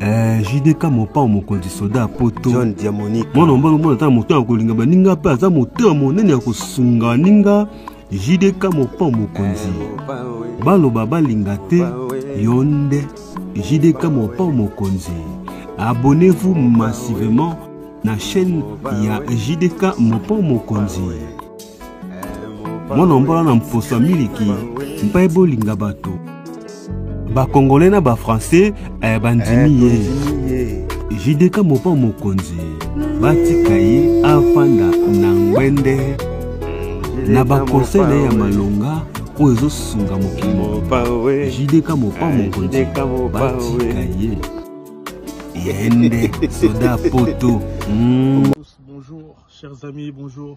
Eh, JDK mopao mokonzi soda ya poto John Diamonique mwana mobali omona ata na moto ya kolinga baninga mpe aza moto ya monene ya kosunga baninga JDK mopao mokonzi baloba balinga te yo nde JDK mopao mokonzi abonnez-vous massivement na chaîne ya JDK mopao mokonzi mwana mbola na mposo ya miliki mpe bolinga bato bakongole na bafrançais eh, bandimi ye eh, jideka mopa mokonzi batika ye afanda na ngwende na bakonsei na ye ya malonga oyo ezosunga mokili mobimba jideka mopa eh, mokonzi batika ye yende soda poto mm. bonjour chers amis bonjour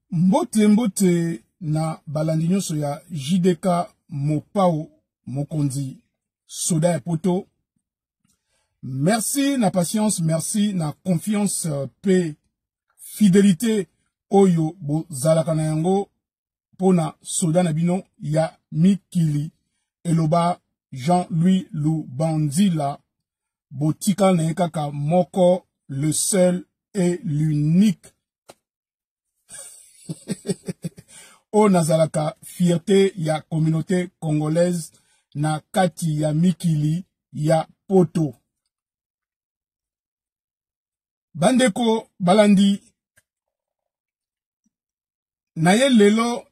mbote mbote na balandi nyonso ya jdk mopao mokonzi soda ya poto merci na patience merci na confiance euh, pe fidelité oyo bozalaka na yango mpo na soda na bino ya mikili eloba jean-louis lubanzila botika na ye kaka moko le seul et l'unique oyo nazalaka fierte ya communauté congolaise na kati ya mikili ya poto bandeko balandi na ye lelo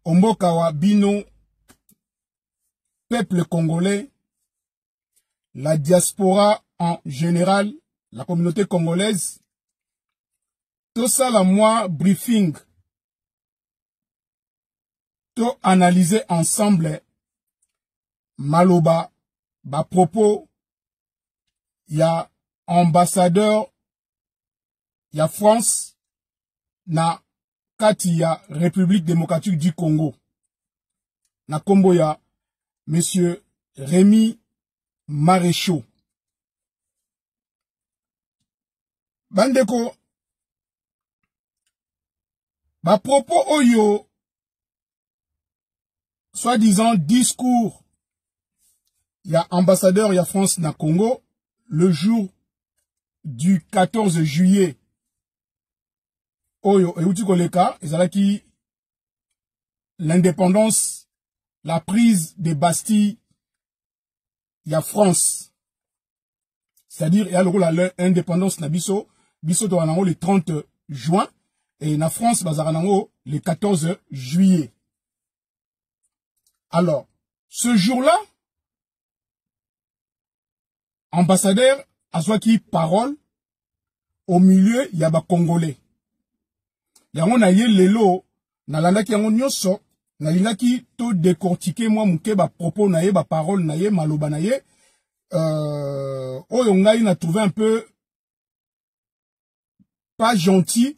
omboka wa bino peuple congolais la diaspora en général, la communauté congolaise, tout ça la moi briefing, tout analyser ensemble maloba, ba propos, ya ambassadeur ya France na kati ya République démocratique du Congo na kombo ya monsieur Rémi Maréchaux bandeko ba propos oyo soi-disant discours ya ambassadeur ya France na Congo le jour du 14 juillet oyo euti koleka ezalaki l'indépendance la prise de bastille ya france c'est-à-dire eya lokola indépendance na biso biso tozala nango le 30 juin et na france bazalaka nango le 14 juillet alors ce jour-là ambassadeur azwaki parole au milieu ya bacongolais yango na ye lelo nalandaki yango nyonso nalingaki to decortike mwa moke bapropos na ye baparole na ye maloba na ye euh, oyo ngai na trouve un peu pas gentil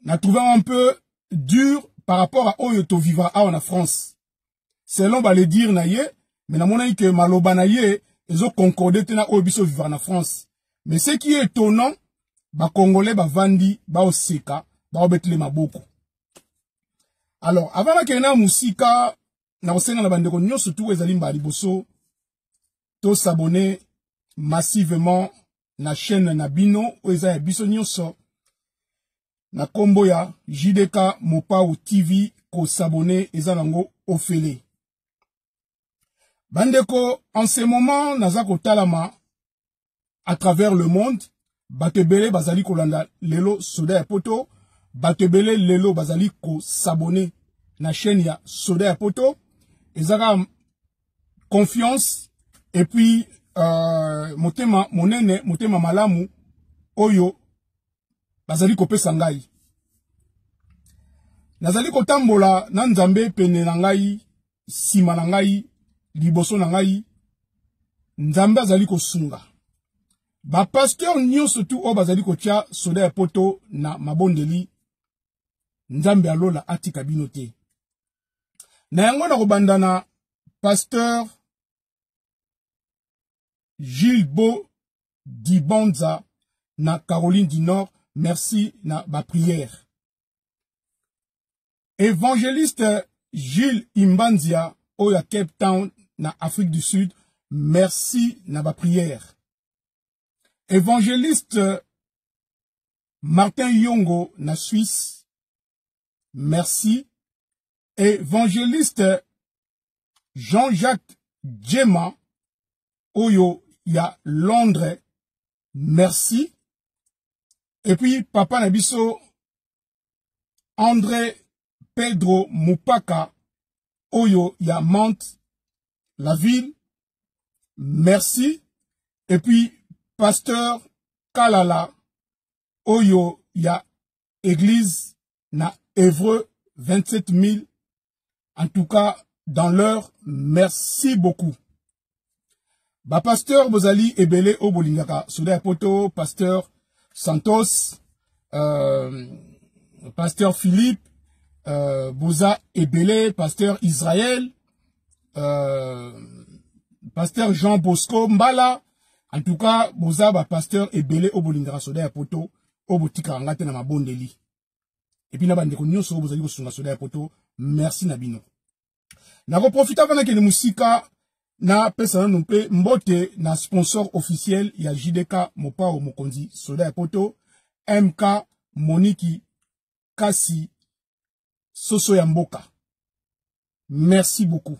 na trouve un peu dur par rapport à oyo to vivra awa na France selon ba le dire na ye mais na monaki que maloba na ye ezo concorder te na oyo biso vivra na France mais ce qui est étonnant ba congolais ba vandi ba oseka ba obetele maboko alors avant na kena musika na kosenga na bandeko nyonso tu ezali mbala liboso to s'abonner massivement na chaîne na bino oyo eza ya biso nyonso na nkombo ya jdk mopau tv kosabone eza nango ofele bandeko en ce moment naza kotalama à travers le monde bato ebele bazali kolanda lelo soda ya poto bato ebele lelo bazali kosabone na chaîne ya soda ya poto eza kaka confiance et puis euh, motema monene motema malamu oyo bazali kopesa ngai nazali kotambola na nzambe pene na ngai nsima na ngai liboso na ngai nzambe azali kosunga bapasteur nyonso tu oyo bazali kotya soda ya poto na mabondeli nzambe ya lola atika bino te na yango na kobanda na pasteur gilbo dibonza na caroline du nord merci na baprière évangéliste gilles imbanzia oyo ya cape town na afrique du sud merci na baprière évangéliste martin yongo na suisse Merci. Évangéliste Jean-Jacques Djema, Oyo ya Londres. Merci. Et puis, Papa Nabiso, André Pedro Mupaka, Oyo ya Mante, la ville. Merci. Et puis, Pasteur Kalala, Oyo ya église na Évreux 27 000. En tout cas, dans l'heure, merci beaucoup. Ba pasteur Bozali Ebele Obolingaka, Souda Poto, pasteur Santos, euh, pasteur Philippe, euh, Boza Ebele, pasteur Israël, euh, pasteur Jean Bosco Mbala, en tout cas, Boza, ba pasteur Ebele Obolingaka, Souda Poto, oyo botikaka ngai te na mabondeli epuis na bandeko nyonso oyo bozali kosunga soda ya poto merci na bino nakoprofita mpe nakende mosika napesa nano mpe mbote na sponsor officiel ya jdk mopao mokonzi soda ya poto mk moniki kasi soso ya mboka merci beaucoup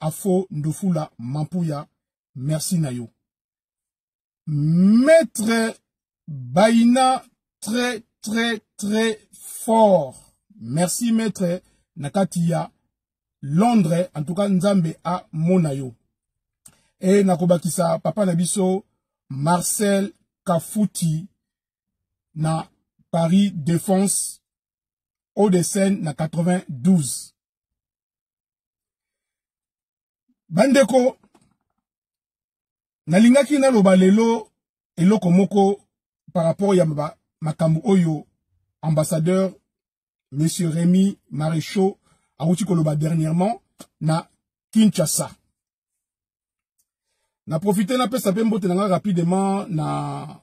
Afo Ndufula Mampuya, merci na yo. Maître Baina, très, très, très fort. Merci, maître Nakatia. Londres, en tout cas, Nzambe a Monayo. Et Nakobakisa, Papa Nabiso, Marcel Kafuti, na Paris Défense, Haut-de-Seine, na 92. bandeko nalingaki naloba lelo eloko moko par rapport ya makambo oyo ambassadeur monsieur Rémi Maréchaux awuti koloba dernièrement na Kinshasa na profite napesa mpe mbote na ngai rapidement na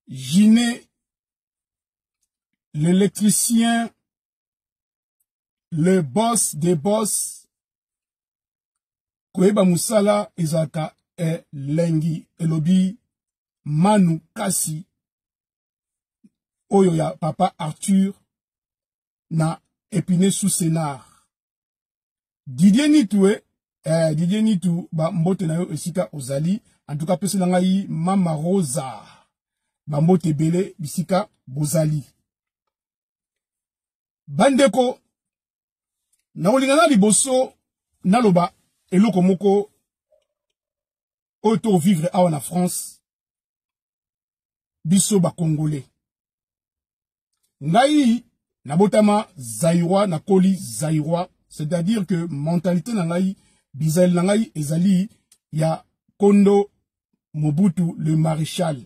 Gine l'électricien, le boss des boss, koyeba musala ezalaka elengi elobi manu kasi oyo ya papa arthur na epine sous sénard Didier Nitu eh, eh Didier Nitu ba mbote na yo esika ozali en tout cas pesela ngai mama Rosa ba mbote ebele bisika bozali bandeko nakolinga na liboso naloba eloko moko oyo to vivre awa na France biso ba congolais ngai nabotama zaïrois nakoli zaïrois c'est-à-dire que mentalité na ngai bizali na ngai ezali ya kondo mobutu le maréchal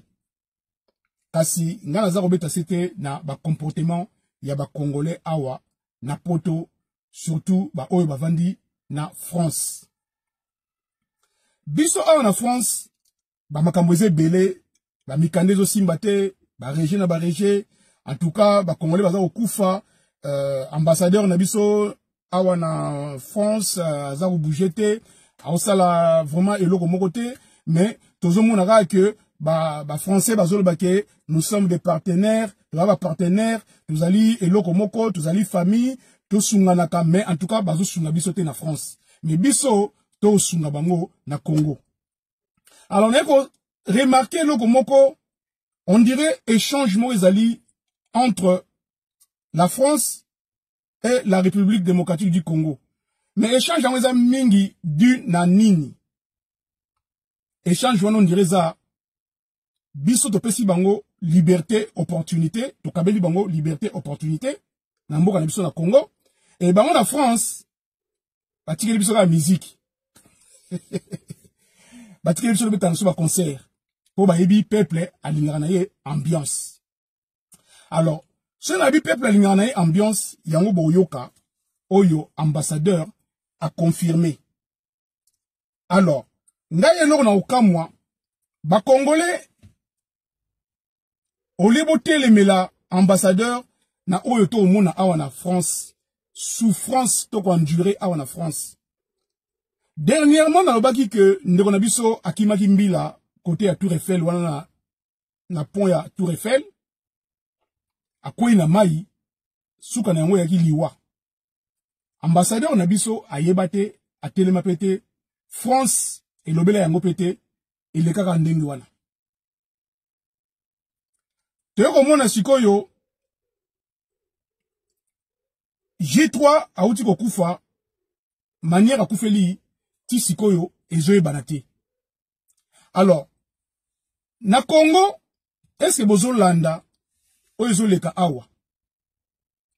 kasi ngai naza kobeta se te na bacomportement ya bacongolais awa na poto surtout baoyo bavandi na france biso awa na france ba makambo eza ebele ba mikanda ezosimba te ba reje na ba reje en tout cas ba congolais baza kokufa euh, ambassadeur na biso awa na france euh, aza kobouge te aosala vraiment eloko moko te mais tozomona kaka ke ba, ba français bazoloba ke nous sommes des partenaires toza ba partenaires tozali eloko moko tozali famille tosunganaka mais en tout cas bazosunga biso te na france mais biso tosunga bango na congo alors naye ko remarke eloko moko on dirait échange moko ezali entre la france et la république démocratique du congo mais échange yango eza mingi du na nini échange wana on dirait eza biso topesi bango liberté opportunité tokabeli bango liberté opportunité na mboka na biso na congo e bango na france batikeli biso kaka miziki batikeli biso tobetana biso baconcert mpo bayebi peuple alingaka na ye ambiance alors soki nayebi peuple alingaka na ye ambiance yango boyoka oyo ambassadeur aconfirme alors ngai eloko na kokamwa bakongole olie botelemela ambassadeur na oyo to omona awa na France souffrance to ko endurer awa na France dernièrement nalobaki que ndeko na biso akimaki mbila kote ya Tour Eiffel wana na na pont ya Tour Eiffel akwei na mai suka na yango eyaki liwa ambassadeur na biso ayeba te atelema pe te France elobela yango pe te elekaka ndenge wana toye komona sikoyo J3 auti kokufa manière akufeli ti sikoyo ezoyebana te alors na Congo est-ce que bozolanda oyo ezoleka awa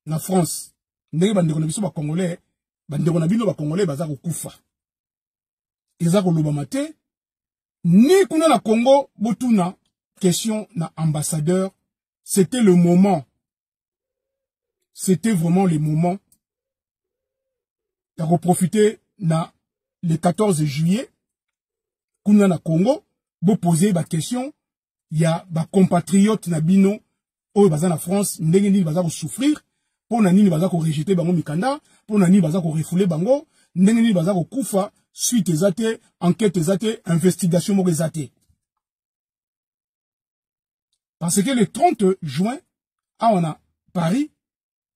na France ndenge bandeko na biso bakongolais bandeko na bino bakongolais baza kokufa eza kolobama te ni kuna na congo botuna question na ambassadeur c'était le moment c'était vraiment le moment ya koprofite na le 14 juillet kuna na congo bopose baquestion ya bacompatriote na bino oyo baza na france ndenge nini baza kosouffrir mpo na nini baza korejete bango mikanda mpo na nini baza korefoule bango ndenge nini baza kokufa suite eza te enquête eza te investigation moko eza te parce que le 30 juin awa na paris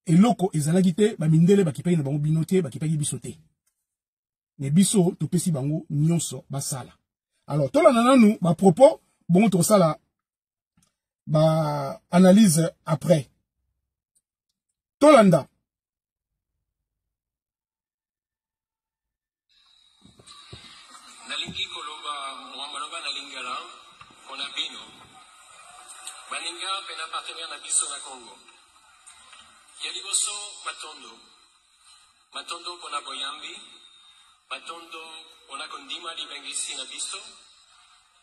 eloko ezalaki te bamindele bakipaki na bango bino te bakipaki biso te me biso topesi bango nyonso basala alors tolanda nanu bapropos bongo tokosala baanalyse après tolanda nalingi koloba mwa maloba na lingala mpo na bino baninga mpe na partenere na biso na congo ya liboso matondo matondo mpo na boyambi matondo mpo na kondima libengisi na biso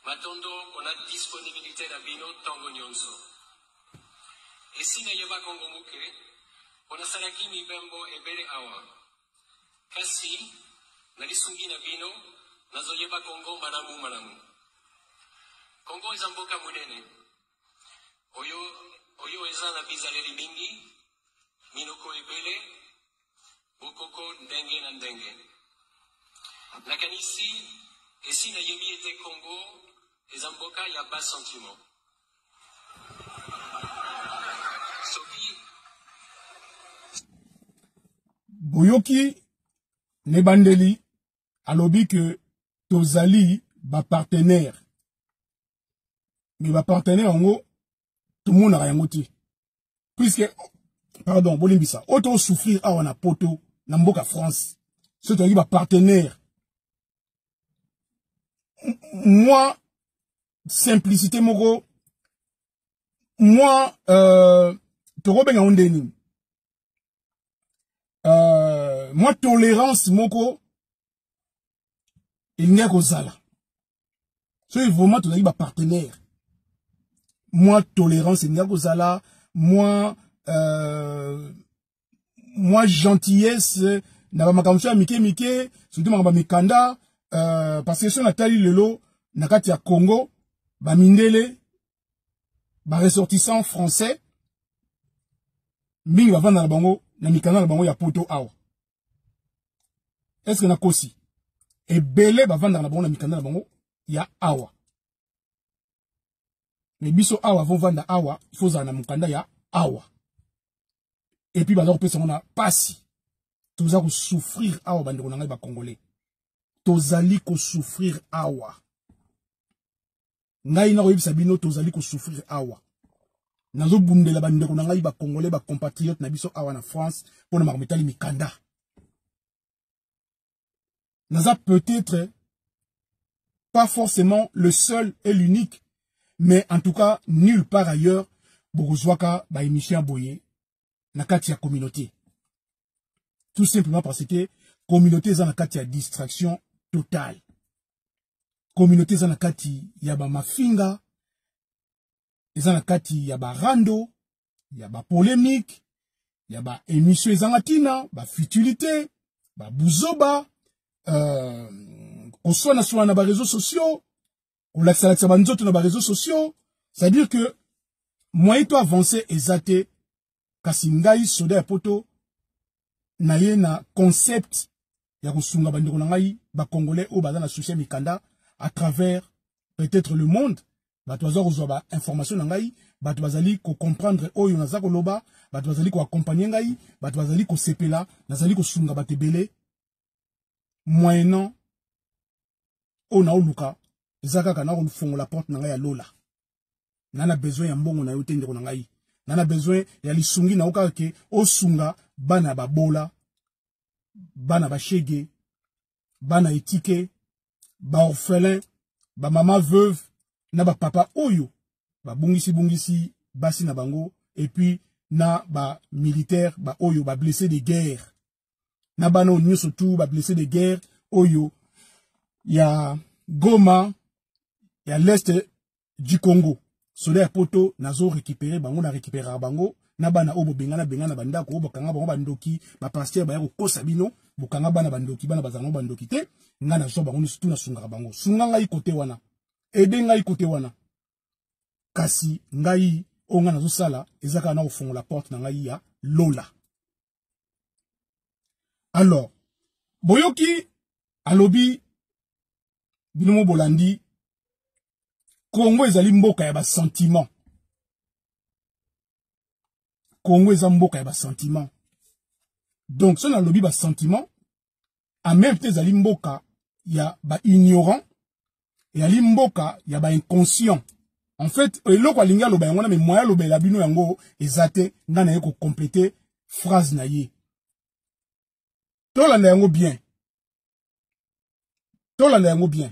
matondo mpo na disponibilité na bino ntango nyonso Esi nayebaka yango moke, mpo nasalaki mibembo ebele awa. Kasi, na lisungi na bino, nazoyeba Congo malamumalamu. Congo eza mboka monene oyo, oyo eza na bizaleli mingi, minoko ebele, bokoko ndenge na ndenge. Nakanisi esi nayebi ete Congo eza mboka ya bas sentiment. boyoki na ebandeli alobi ke tozali bapartenere me bapartenere yango tomonaka yango te puiske pardon bolimbisa oyo tosouffrir awa na poto na mboka france soki tozalaki bapartenere mwa simplicité moko moi euh, tokobenga yango nde nini euh, mwa tolérance moko elingaki kozala soki vraiment tozalaki bapartenaire mwa tolérance elingaki kozala mwa euh, mwa gentillesse na bamakambo so ya mike mike surtout makambo ya mikanda uh, parce que so natali lelo na kati ya congo bamindele baressortissant français mingi bavanda na bango na mikanda na bango ya poto awa eske nakosi ebele bavandaka na bango na mikanda na bango ya awa me biso awa avovanda awa ifozala na mokanda ya awa et puis baza kopesa ngo na pasi toza kosouffrir awa bandeko na ngai bacongolais tozali kosouffrir awa ngai nakoyebisa bino tozali kosouffrir awa nazobundela bandeko na ngai bacongolais bacompatriote na biso awa na france mpo na makambo etali mikanda naza peut-être pas forcément le seul et l'unique mais en tout cas nulle part ailleurs bokozwaka ba émission boye na kati ya communauté tout simplement parce que communauté eza na kati ya distraction totale communauté eza na kati ya ba mafinga eza na kati ya ba rando ya ba polemique ya ba émission ezanga tina ba futilité ba buzoba euh, koswana swana na ba réseaux sociaux kolakisa lakisa ba nzoto na ba réseaux sociaux c'est à dire que moyen to avancer eza te kasi ngai soda ya poto naye na concept ya kosunga bandeko na ngai bacongolais oyo baza na souci ya mikanda à travers peut-être le monde bato baza kozwa ba information na ngai bato bazali kocomprendre oyo naza koloba bato bazali koakompagne ngai bato bazali kosepela nazali kosunga bato ebele moyenant oyo naoluka eza kaka nakofongola porte na ngai ya lola na na besoin ya mbongo na yo te ndeko na ngai na na besoin ya lisungi na yo kaka ke osunga bana ya babola bana bashege bana etike baorphelin bamama veuve na bapapa oyo babungisi-bungisi basi na bango epuis na bamilitaire baoyo bablesse de guerre na bana oyo nyonso tu bablesse de guerre oyo ya goma ya leste du Congo soda ya poto nazo récupérer bango na récupérera bango na bana oyo bobengana bengana bandako oyo bokanga bango bandoki bapastere baya kokosa bino bokanga bana bandoki bana bazala bango bandoki te ngai nazwa bango nyonso tu nasungaka bango sunga ngai kote wana ede ngai kote wana kasi ngai oyo ngai nazosala eza kaka na kofongola porte na ngai ya lola alors boyoki alobi bino mo bolandi kongo ezali mboka ya basentiment kongo eza mboka ya basentiment donc soki nalobi basentiment en même temps ezali mboka ya ba ignorant ezali mboka ya ba inconscient en fait eloko alingi aloba yango wana me moya alobela bino yango eza te ngai naye kocomplete phrase na ye tolanda yango bien tolanda yango bien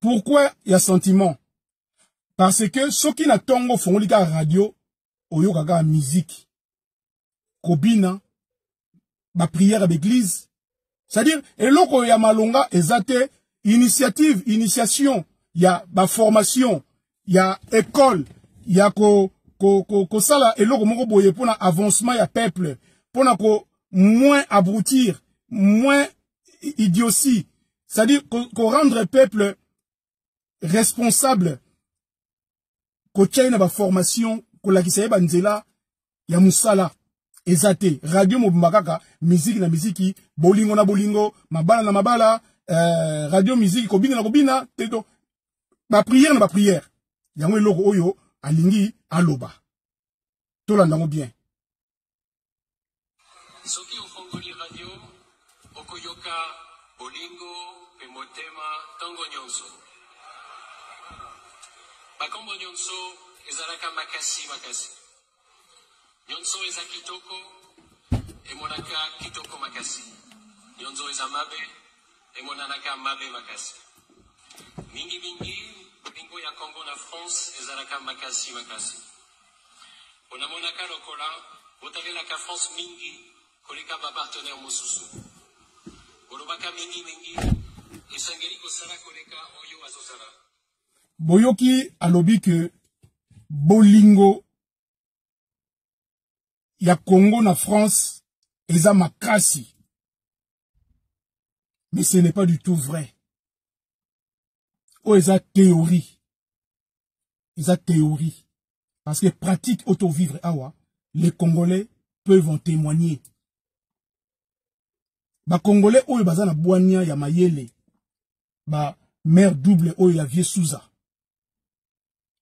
pourquoi ya sentiment parce que soki na ntongo ofongoli kaka radio oyoka kaka miziki kobina baprière ya baeglize c'est-à-dire eloko ya malonga eza te initiative initiation ya baformation ya école ya ko ko ko kosala eloko moko boye pona avancement ya peuple pona ko moins abrutir moins idiotie c'est-à-dire ko, ko rendre peuple responsable kotia ye na baformation kolakisa ye banzela ya musala eza te radio mobimba kaka miziki na miziki bolingo na bolingo mabala na mabala euh, radio miziki kobina na kobina te to bapriere na bapriere yango eloko oyo alingi aloba tolanda yango bien soki ofongoli radio okoyoka bolingo mpe motema ntango nyonso bakombo nyonso ezalaka makasi makasi Nionso eza kitoko emonaka kitoko makasi, nionso eza mabe emonanaka mabe makasi. Mingi mingi bolingo ya Congo na France ezalaka makasi makasi. Onamonaka lokola botalelaka France mingi koleka ba partenaire mosusu. Olobaka mingi mingi esengeli kosala koleka oyo azosala. boyoki alobi que bolingo ya Congo na France eza makasi mais ce n'est pas du tout vrai oyo eza théorie eza théorie parce que pratique auto vivre awa les Congolais peuvent en témoigner ba congolais oyo baza na bwania ya mayele ba mère double oyo ya vieux Souza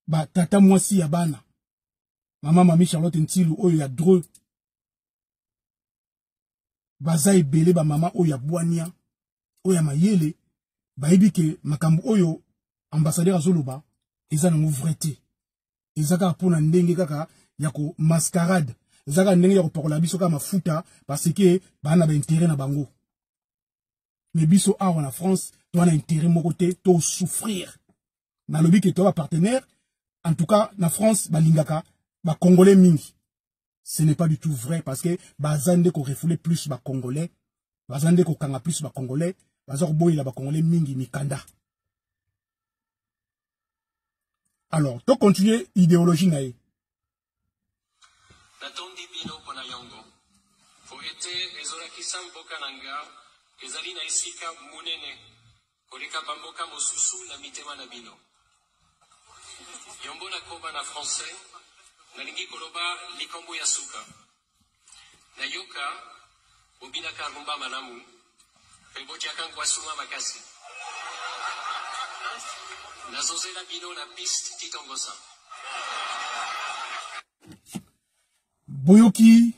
ba tata mwasi ya bana mama mami Charlotte Ntilu oyo ya dreux baza ebele ba mama oyo ya bwania oyo ya mayele bayebi ke makambo oyo ambassadeur azoloba eza nango vrai te eza kaka mpo na ndenge kaka ya ko mascarade eza kaka ndenge ya kopakola biso kaka mafuta parce que baa na baintere na bango me biso awa na france toa na intere moko te tosouffrir nalobi ke toa bapartenaire en tout cas na france balingaka bacongolais mingi ce n'est pas du tout vrai parce que baza nde ko refouler plus ba congolais baza nde kokanga plus ba congolais baza koboyela ba congolais mingi mikanda alors to continuer idéologie na ye natondi bino mpo na yango mpo ete ezolakisa mboka na nga ezali na esika monene Koleka ba mboka mosusu na mitema na bino. Yombo na koba na français nalingi koloba likambo ya suka. Na yoka bobinaka rumba malamu pe botiaka nkwasuma makasi. Nazo zela bino na piste Titongosa. Boyoki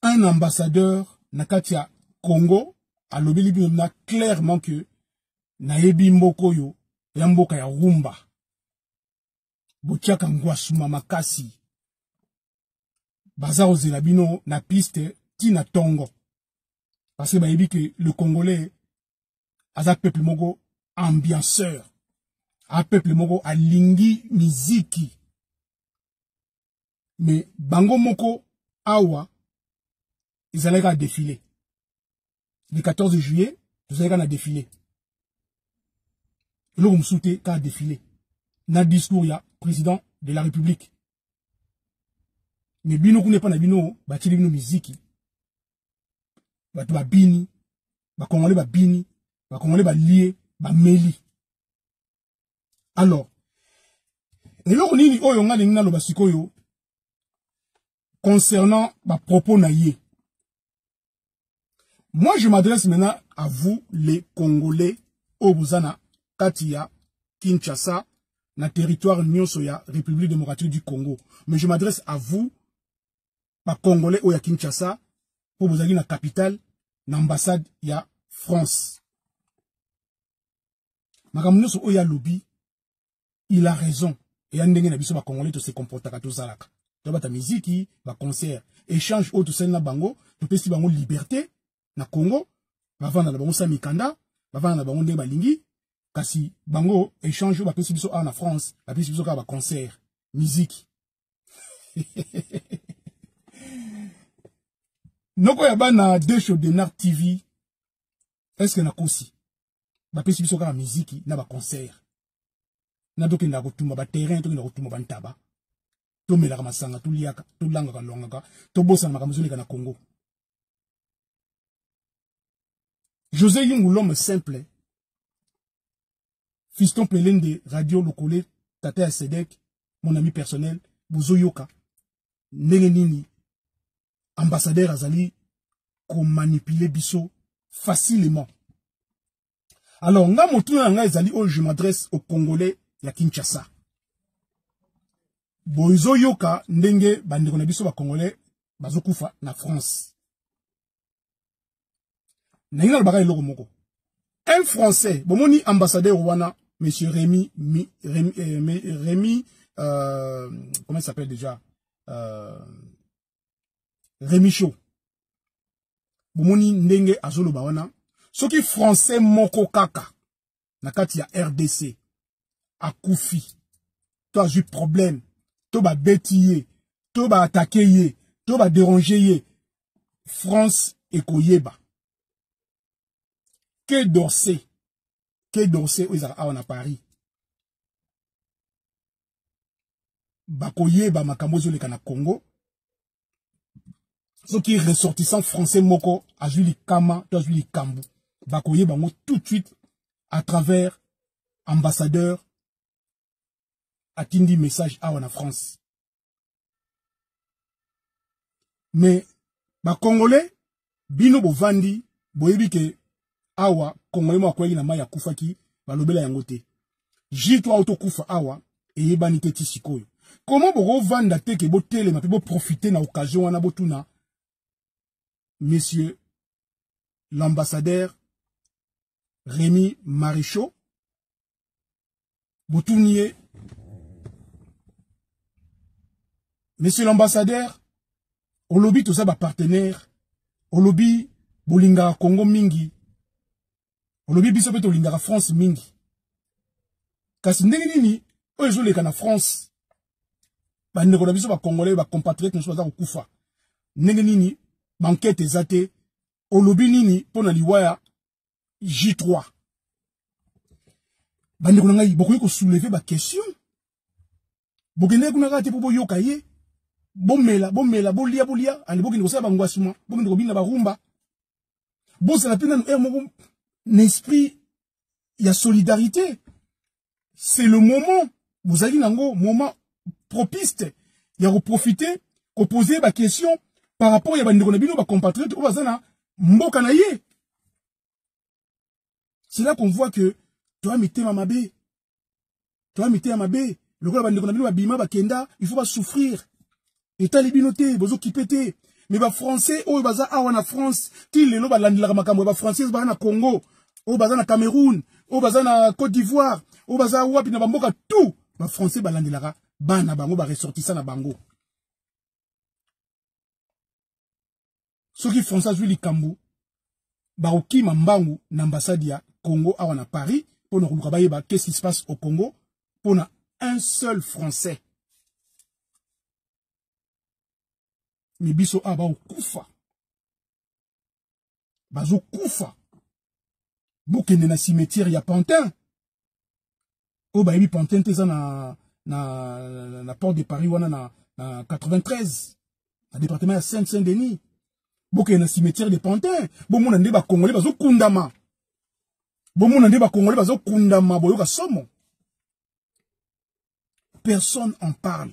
un ambassadeur na kati ya congo alobeli bino na clairement que nayebi mboka oyo ya mboka ya rumba botiaka ngwasuma makasi baza kozela bino na piste ti na tongo parce que bayebi ke le congolais aza peuple moko ambianceur a peuple moko alingi miziki mais bango moko awa ezalaki kaka défilé le 14 juillet tozalaki kaka na défilé eloko mosusu te kaka défilé na discours ya président de la république mais bino kuna epai na bino batyeli bino miziki bato babini bakongole babini bakongole balie bameli alors eloko nini oyo nga lingi naloba sikoyo concernant bapropos na ye moi je m'adresse maintenant à vous les congolais oyo boza na kati ya kinshasa na territoire nyonso ya république démocratique du congo mais je m'adresse à vous bacongolais oyo ya kinshasa mpo bozalaki na capitale na ambassade ya france makambo nyonso oyo alobi il a raison eya ndenge na biso bacongolais tose comportaka tozalaka tobata miziki baconcert échange oyo tosali na bango topesi bango liberté na congo bavanda na bango sa mikanda bavanda na bango ndenge balingi kasi bango échange oyo bapesi biso awa na france bapesi biso kaka baconcert miziki noko ya bana desho denar tv eske nakosi bapesi biso kaka miziki na baconcert na tokendaka kotumba baterrain tokenda kotumba bantaba tomelaka masanga toliaka tolangaka longaka tobosana makambo ezoleka na congo josé yungu l'homme simple fiston pelende radio lokole tata ya sedek mon ami personnel bozoyoka ndenge nini ambassadeur azali komanipuler biso facilement alors nga motuna na ngai ezali oyo je m'adresse au congolais ya kinshasa bozoyoka ndenge bandeko na biso bacongolais bazokufa na france nalingi nalobaka eloko moko un français bomoni ambassadeur wana monsieur Rémi mi, Rémi, euh, Rémi euh, comment il s'appelle déjà euh, Rémi Chaud bomoni ndenge azoloba wana soki français moko kaka na kati ya rdc akufi to azwi problème to babeti ye to baatake ye to baderange ye france ekoyeba ke dorse ke dorse oyo ezalaka awa na paris bakoyeba makambo ezoleka na congo soki ressortissant français moko azwi likama to azwi likambo bakoyeba yango tout de suite à travers ambassadeur atindi message awa na france mais bacongolais bino bovandi boyebi ke awa congolais moko akweyaki na mai akufaki balobela yango te ji to auto kufa awa eyebani te ti sikoyo koma bokovanda te ke botelema mpe boprofite na occasion wana botuna monsieur l'ambassadeur Remy Marichot botuni ye monsieur l'ambassadeur olobi toza bapartenaire olobi bolingaka congo mingi olobi biso mpe tolingaka france mingi kasi ndenge nini oyo ezoleka na france bandeko na biso bacongolais bacompatriote mosusu baza kokufa ndenge nini bankete eza te olobi nini mpo na liwa ya J3 bandeko na ngai bokoki kosouleve baquestion bokendeki kuna kaka te mpo boyoka ye bomela bomela bolia bolia ande bokende kosala bangwasuma bokende kobina barumba bozala mpe nanu heure moko na esprit ya solidarité c'est le moment bozalaki nango moment propiste ya koprofite kopose baquestion par rapport ya bandeko na bino bacompatriote oyo baza na mboka na ye c'est là qu'on voit que toya mitema mabe toya mitema mabe lokola bandeko na bino babima bakenda il faut basouffrir etali bino te bozo kipe te mais ba français oyo baza awa na France ti lelo balandelaka makambo ya ba français baza na Congo oyo baza na Cameroun oyo baza na Côte d'Ivoire oyo baza wapi na bamboka tout ba français balandelaka bana bango ba ressortissant na bango soki français azwi likambo bakokima mbangu na ambassade ya congo awa na paris mpo na koluka bayeba qu'est-ce qui se passe au congo mpo na un seul français me biso awa bakokufa bazokufa bokende na cimetière ya pantin oyo bayebi pantin te eza na, na, na, na porte de paris wana na, na 93 na département ya saint saint denis bokeye na cimetière de pantin bomona nde bakongole bazokundama bomona nde bakongole bazokundama boyoka somo personne en parle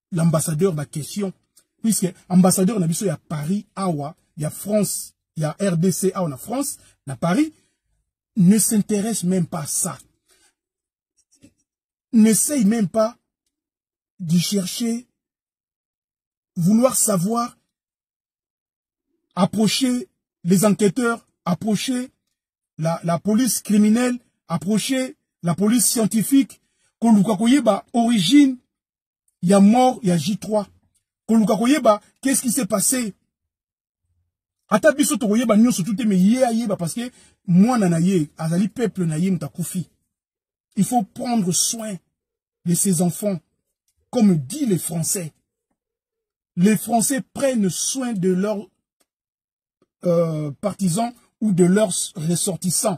l'ambassadeur ba question puisque ambassadeur na biso ya Paris awa ya France ya RDC awa na France na Paris ne s'intéresse même pas à ça n'essaye même pas de chercher vouloir savoir approcher les enquêteurs approcher la, la police criminelle approcher la police scientifique koluka koyeba origine ya mort ya J3 koluka koyeba qu'est-ce qui s'est passé ata biso tokoyeba nyonso tout mais ye ayeba parce que mwana na ye azali peuple na ye moto akufi il faut prendre soin de ses enfants comme dit les français les français prennent soin de leurs euh, partisans ou de leurs ressortissants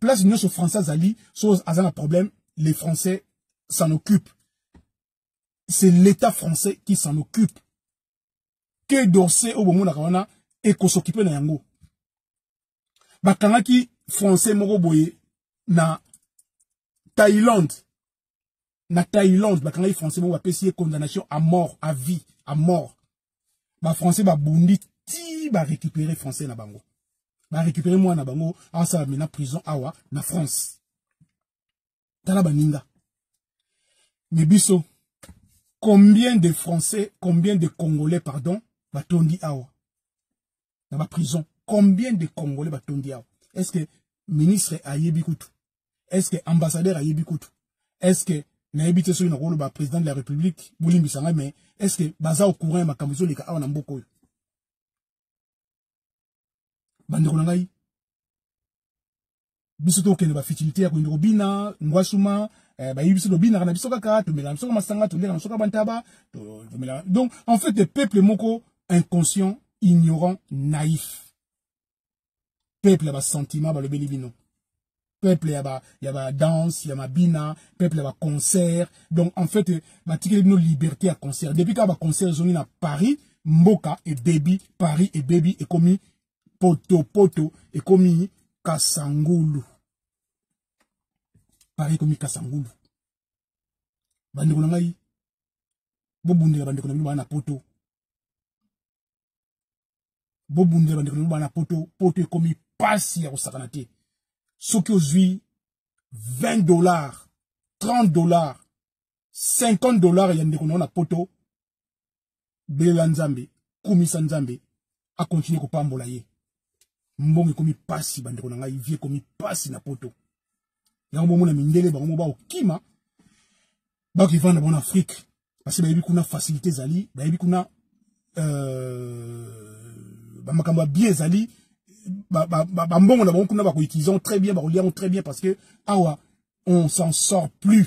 place nyonso français azali so aza na problème les français s'en occupent c'est l'état français qui s'en occupe que d'orsay oyo bomonaka wana ekosokipe na yango bakangaki français moko boye na thaïlande na Thaïlande bakangaki français moko bapesi ye condamnation à mort à vie à mort ba français babundi ti ba récupérer français na bango ba récupérer mwana na bango asala mena prison awa na France tala baninga mais biso combien de français combien de congolais pardon batondi awa na ba prison combien de congolais batondi awa est ce que ministre ayebi kutu est ce que ambassadeur ayebi kutu est ce que nayebi te soki nakoloba président de la république bolimbisa ngai mais est ce que baza au courant ya makambo ezoleka awa na mboka oyo bandeko na ngai biso tokende ba futilité ya kokende kobina ngwasuma eh, bayebi biso tobinaka na biso kaka tomelaka biso masanga toleka na biso kaka bantaba tomelaka donc en fait le peuple moko inconscient ignorant naïf peuple ya basentiment balobeli bino peuple ya ba ya ba danse ya mabina peuple ya ba concert donc en fait eh, batikeli bino liberté ya concert depuis kaka ba concert ezongi na paris mboka ebebi paris ebebi ekomi potopoto ekomi kasangulu pari ekomi kasangulu bandeko na ngai bobundela bandeko na bino baa na poto bobundela bandeko na bino baa na poto poto ekomi mpasi ya kosakana te soki ozwi 20 dollars 30 dollars 50 dollars ya ndeko na yo na poto belela nzambe kumisa nzambe akontinue kopambola ye mbongo ekomi pasi bandeko na ngai vie ekomi pasi na poto yango bomona mindele bango mo baokima bakivanda bango na afrike basi bayebi kuna facilité ezali bayebi kuna euh, bamakambo ya bie ezali bambongo na bango kuna bakoutilize yango très bien bakolia yango très bien parce que awa on s'en sort plus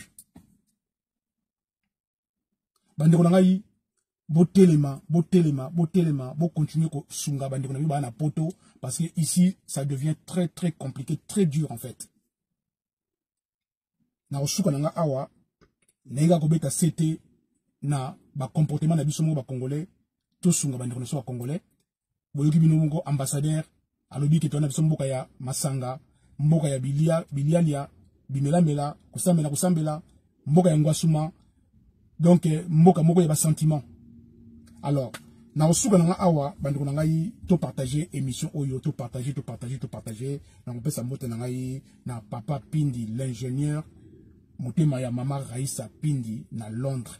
bandeko na ngai botelema botelema botelema bocontinue kosunga bandeko na biso baa na poto parce que ici ça devient très très compliqué très dur en fait na kosuka na ngai awa nayika kobeta ct na bacomportement na biso moko bacongolais tosunga bandeko na biso bacongolais boyoki bino moko ambassadeur alobi ke toyana biso mboka ya masanga mboka ya bilia bilialia bimelamela kosambela kosambela mboka ya ngwasuma donc eh, mboka moko ya basentiment alors nakosuka na ngai awa bandeko na ngai topartage émission oyo topartage topartage topartage nakopesa mbote na ngai na papa pindi l'ingénieur motema ya mama raisa pindi na londres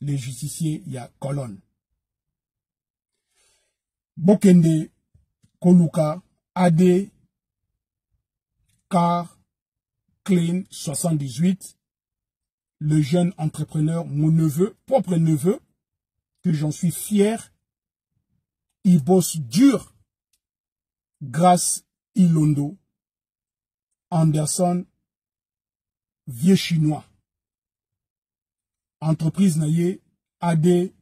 le justicier ya colonne bokende koluka ad car clean 78 le jeune entrepreneur mon neveu propre neveu que j'en suis fier il bosse dur grâce Ilondo Anderson vieux chinois entreprise na ye ad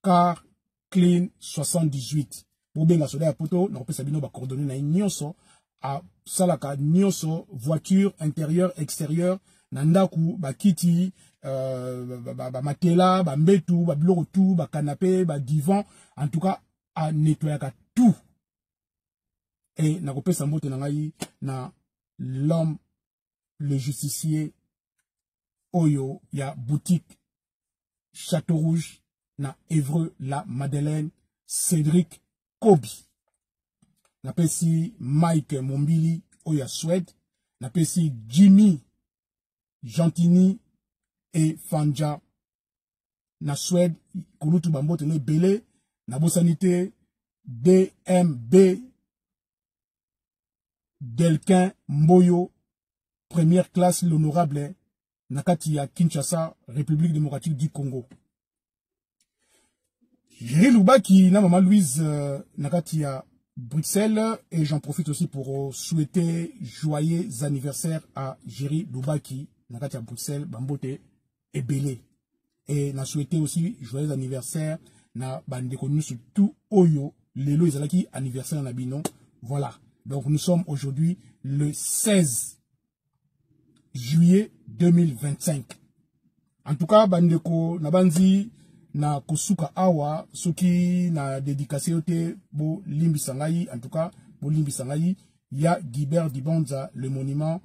car clean 78 bobenga soda ya poto nakopesa bino bacoordonne na ye nyonso asalaka nyonso voiture intérieur extérieur na ndako bakiti euh, bamatela bambetu babiloko tu bakanape badivan en tout cas anetoyaka tout et nakopesa mbote na ngai na l'homme le justicier oyo ya boutique château rouge na evreux la madeleine cédric kobi napesi mike mombili oyo ya swede napesi jimmy gentini e fanja na Suède kulutu bambote no ebele nabosani te DMB Delquin Mboyo première classe l'honorable na kati ya Kinshasa République démocratique du Congo Jerry Lubaki na maman Louise euh, na kati ya Bruxelles et j'en profite aussi pour souhaiter joyeux anniversaire à Jerry Lubaki na kati ya Bruxelles bambote ebele et na souhaité aussi joyeux anniversaire na bandeko nyonso tout oyo lelo ezalaki anniversaire na bino voilà donc nous sommes aujourd'hui le 16 juillet 2025 en tout cas bandeko na banzi na kosuka awa soki na dedikase yo te bolimbisa ngai en tout cas bolimbisa ngai ya Guibert Dibanza le monument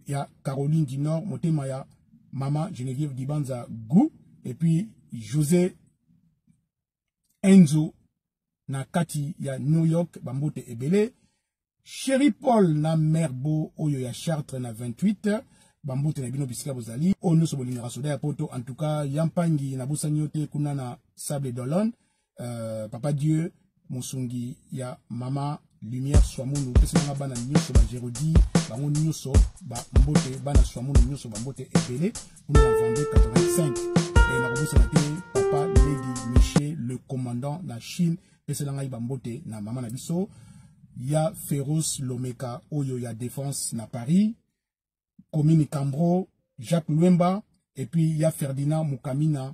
ya Caroline du Nord motema ya mama Geneviève Dibanza Gou et puis José Enzo na kati ya New York bambote ebele Chéri Paul na Merbo oyo ya Chartres na 28 bambote na bino bisika bozali oyo nyonso bolingaka soda ya poto en tout cas ya mpangi nabosani yo te kuna na sable d'olone euh, papa dieu mosungi ya mama lumière swamunu opesi nanga bana nyonso bagerodi bango nyonso bambote bana swamunu nyonso bambote ebele kuna na vende 85 e nakobosana te papa lady michel le commandant na chine pesela ngai bambote na mama na biso ya feroce lomeka oyo ya défense na paris komini cambro jacques lwemba epuis ya ferdinand mukamina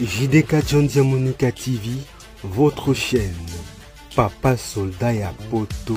JDK John Diamonica TV, votre chaîne. Papa soldat ya poto.